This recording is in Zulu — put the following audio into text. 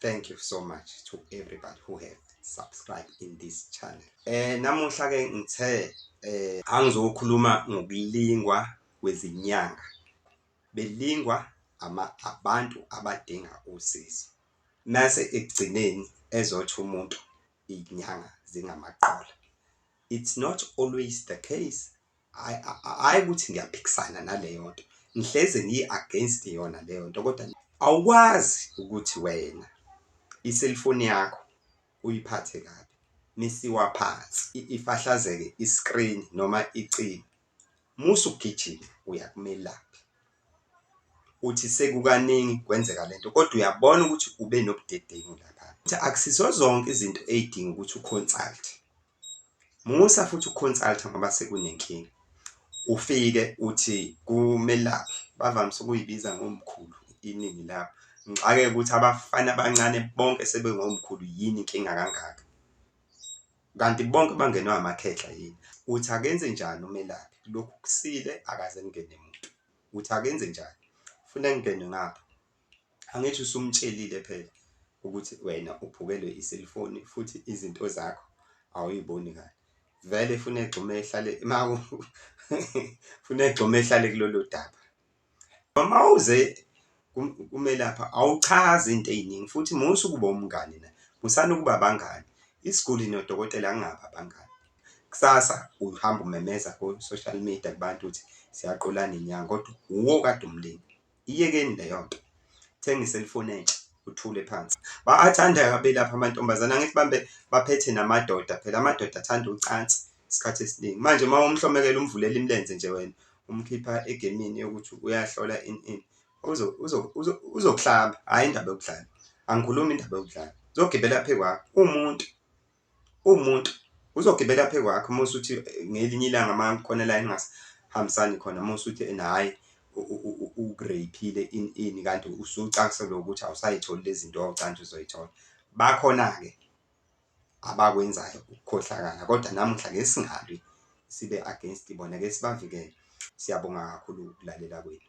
thank you so much to everybody who have subscribe in this channel eh namuhla ke ngithe eh angizokhuluma ngokulingwa kwezinyanga belingwa ama abantu abadinga usizo mase ekugcineni ezothi umuntu inyanga zingamaqola it's not always the case hhayi ukuthi ngiyaphikisana naleyo nto ngihlezi ngi-against yona leyo nto kodwa awukwazi ukuthi wena iselfoni yakho uyiphathe kabi misiwa phansi ifahlazeke i-screen noma icini musa ugijima uyakumelaphi uthi sekukaningi kwenzeka le nto kodwa uyabona ukuthi ube nobudedengu lapha ukuthi akusizo zonke izinto ey'dinga ukuthi uconsulte musa futhi uconsulte ngoba sekunenkinga ufike uthi kumelaphi bavamise ukuyibiza ngomkhulu iningi lapho ngixakeke ukuthi abafana abancane bonke sebengomkhulu yini inkinga kangaka Kanti bonke bangenwe amakhehla yini? Uthi akenze njani umelaphi? Lokhu kusile akaze kungene muntu. Uthi akenze njani? Funa kungene ngapha. Angithi usumtshelile phela ukuthi wena uphukelwe iselfoni futhi izinto zakho awuyiboni kahle. Vele funa egxume ehlale funa egxume ehlale kulolu daba. Noma uze kumelapha awuchazi into ey'ningi futhi musa ukuba umngani na? Musani ukuba abangani. Isiguli nodokotela angingabi abangani. Kusasa uhamba umemeza ko-social media kubantu ukuthi siyaqolana inyanga kodwa wuwe okade umlinda. Iyekeni leyo nto. Thenga i-cellphone entsha uthule phansi. Bayathanda-ke abelaphi amantombazane, angithi bambe baphethe namadoda phela amadoda athanda ucansi isikhathi esiningi. Manje uma umhlomekela umvulela imilenze nje wena, umkhipha egemini yokuthi uyahlola ini ini, uzokuhlamba hhayi indaba yokudlala. Angikhulumi indaba yokudlala, uzogibela phezu kwakho uwumuntu, uwumuntu uzogibela phezu kwakho uma usuthi ngelinye ilanga uma khona la eningahambisani khona uma usuthi ena hhayi ukureyphile ini ini kanti usucaselwe ukuthi awusayitholi lezi zinto wawucantsha uzoyithola, bakhona-ke. abakwenzayo ukukhohlakala kodwa namuhla ngeke singalwi sibe against bona ngeke sibavikele. Siyabonga kakhulu ukulalela kwenu.